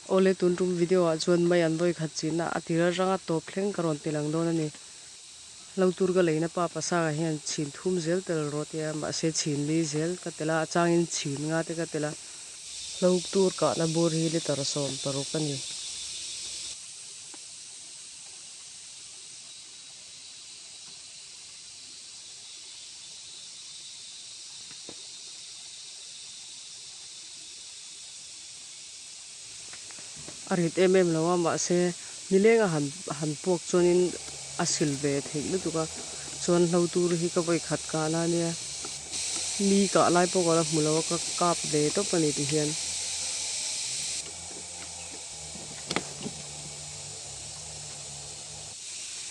Awle tun rum video ah chuan mai an vawi khat chinna a ti ral ranga tawp thleng ka rawn tel ang dawn a ni. Hlo tur ka leina pa Pasanga hian chhin thum zel tel rawh tia mahse chhin li zel ka tel a, a changin chhin nga te ka tel a. Hlo tur kahna bur hi litre sawm paruk a ni. A rit em em lo a, mahse nilenga han han puak chuanin a sil ve theih lutuk a, chuan hlo tur hi ka vawi khat kah na nia, mi kah lai pawh ka la hmu lo a, ka kap ve tawp a ni ti hian.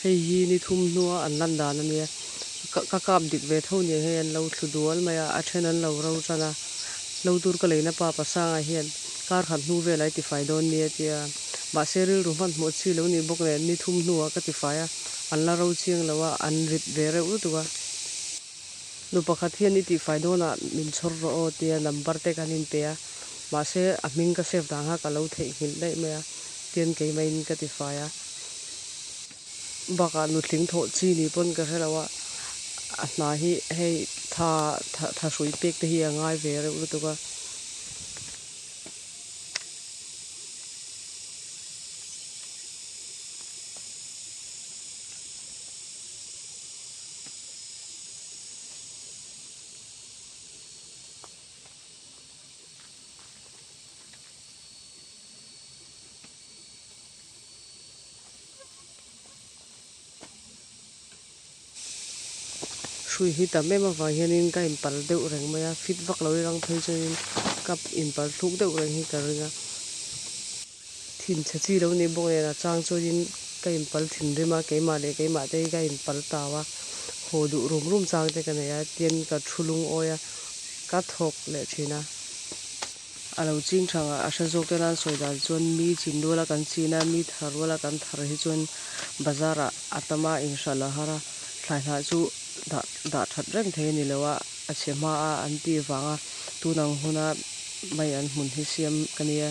Hei hi ni thum hnua an lan dan a nia, ka kap dik ve tho nia hei an lo thlu dual mai a, a then an lo ro tan a, lo tur ka leina pa Pasanga hian kar khat hnu velai ti fai dawn nia ti a, mahse rilru hman hmuh chi lo ni bawk nen ni thum hnua ka ti fai a, an la ro chiang lo a, an rit ve reuh lutuk a. Nu pakhat hian i tihfai dawnah min chhawr rawh aw tia number te kan inpe a, mahse a hming ka save dan kha ka lo theihnghilh daih mai a, tian keimahin ka ti fai a. Bakah nutling thawh chi ni pawn ka hre lo a, a hna hi hei tha tha tha hrui pek te hi a ngai ve reuh lutuk a. hrui hi tam em avang hianin ka inpal deuh reng mai a fit vak lo i rang phei chuan in ka inpal thluk deuh reng hi ka ring a. Thinchhe chi lo nih bawk nen a chang chuan in ka in pal thinrim a, keimah leh keimah te hi ka in pal tau a, haw duh rum rum chang te ka nei a, tian ka thu lung awi a, ka thawk leh thin a, a lo ching chang a, a hre zawk te nan sawi dan chuan mi chin rual a kan chin a, mi thar rual a kan thar hi chuan bazar ah a tam a, in hralh loh har a, thlaihnah chu dah dah that reng thei a ni lo a, A chhe hma a an tih vang a, tun ang huna mai an hmun hi siam ka nia.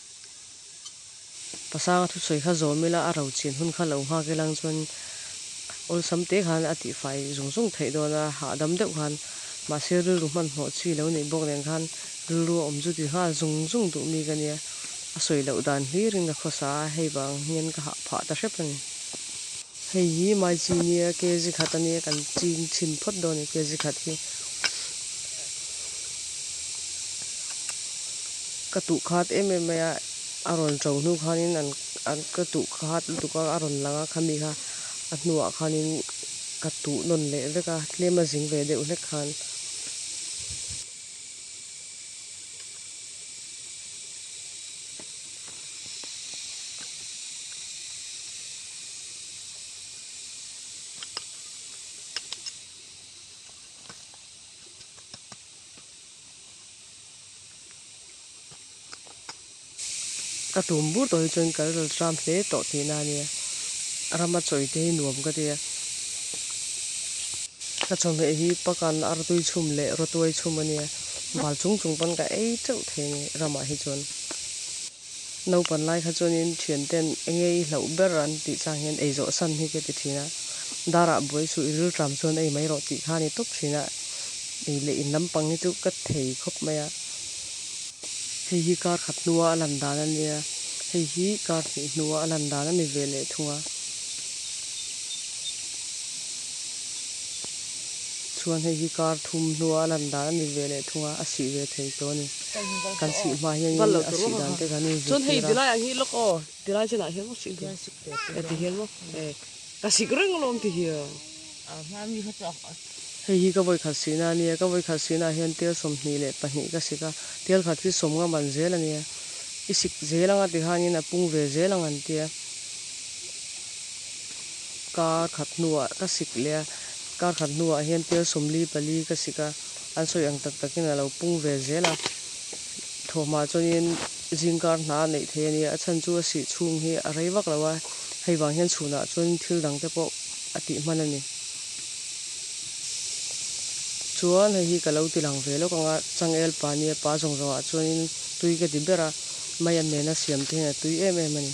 Pasanga thusawi kha zawm ila a ro chin hun kha lo nghak ilang chuan awlsam te khan a tihfai zung zung theih dawn a, hahdam deuh khan. Mahse rilru hmanhmawh chi lo neih bawk nen khan rilru a awmchu ti nghal zung zung duh mi ka nia. A sawi loh dan hlir in ka khawsa a, hei vang hian ka hah phah ta hrep a ni. Hei hi mai chi nia kg khat a nia kan ching chhin phawt dawn a ni kg khat hi ka tuh khat em em mai a a rawn to hnu khanin an an ka tuh khat lutuk a a rawn lang a khami kha a hnuah khanin ka tuh nawn leh vek a tlem a zing ve deuh hlek khan. Ka tum bur tawh hi chuan ka rilru ram hle tawh tihna a nia, rama chawi te hi nuam ka ti a. Ka chawhmeh hi pakan artui chhum leh rotuai chhum a nia, bal chung chung pawn ka ei teuh thei a ni ramah hi chuan. Naupan lai kha chuanin thiante'n engei i hlauh ber an tih chang hian ei zawh san hi ka ti thin a, Darah buai suh i rilṭam chuan ei mai rawh tih kha a ni tawp thin a, ei leh in lampang hi chu ka thei khawp mai a. Hei hi kar khat hnua a lan dan a nia, hei hi kar hnih hnua a lan dan a ni ve leh thung a, chuan hei hi kar thum hnua a lan dan a ni ve leh thung a, a sih ve thei tawh a ni. Kan sih hma hian eng nge a sih dan te kan inzir tir a. Chuan hei tilai ang hi lawk aw, tilai chen ah hian maw sih duh ka ti hian maw e ka sik reng alawm ti hi ang. Hei hi ka vawi khat sih na ania, ka vawi khat sih na ah hian tel sawmhnih leh pahnih ka sik a, tel khat hi sawm ngam an zel ania, i sik zel ang a ti han in a pung ve zel ang an ti a, kar khat hnu ah ka sik leh a, kar khat hnu ah hian tel sawmli pali ka sik a. An sawi ang tak takin a lo pung ve zel a, thawhmah chuan in zing kar hna a neih theih a nia, a chhan chu a sih chhung hi a rei vak lo a, hei vang hian chhunah chuan in thil dang te pawh a tih hman a ni. Chuan hei hi ka lo ti lang ve lawk ang a, Changail pa nia, pa zawng zawng ah chuan in tui ka ti ber a, Maiam nena siam te hian a tui em em a ni.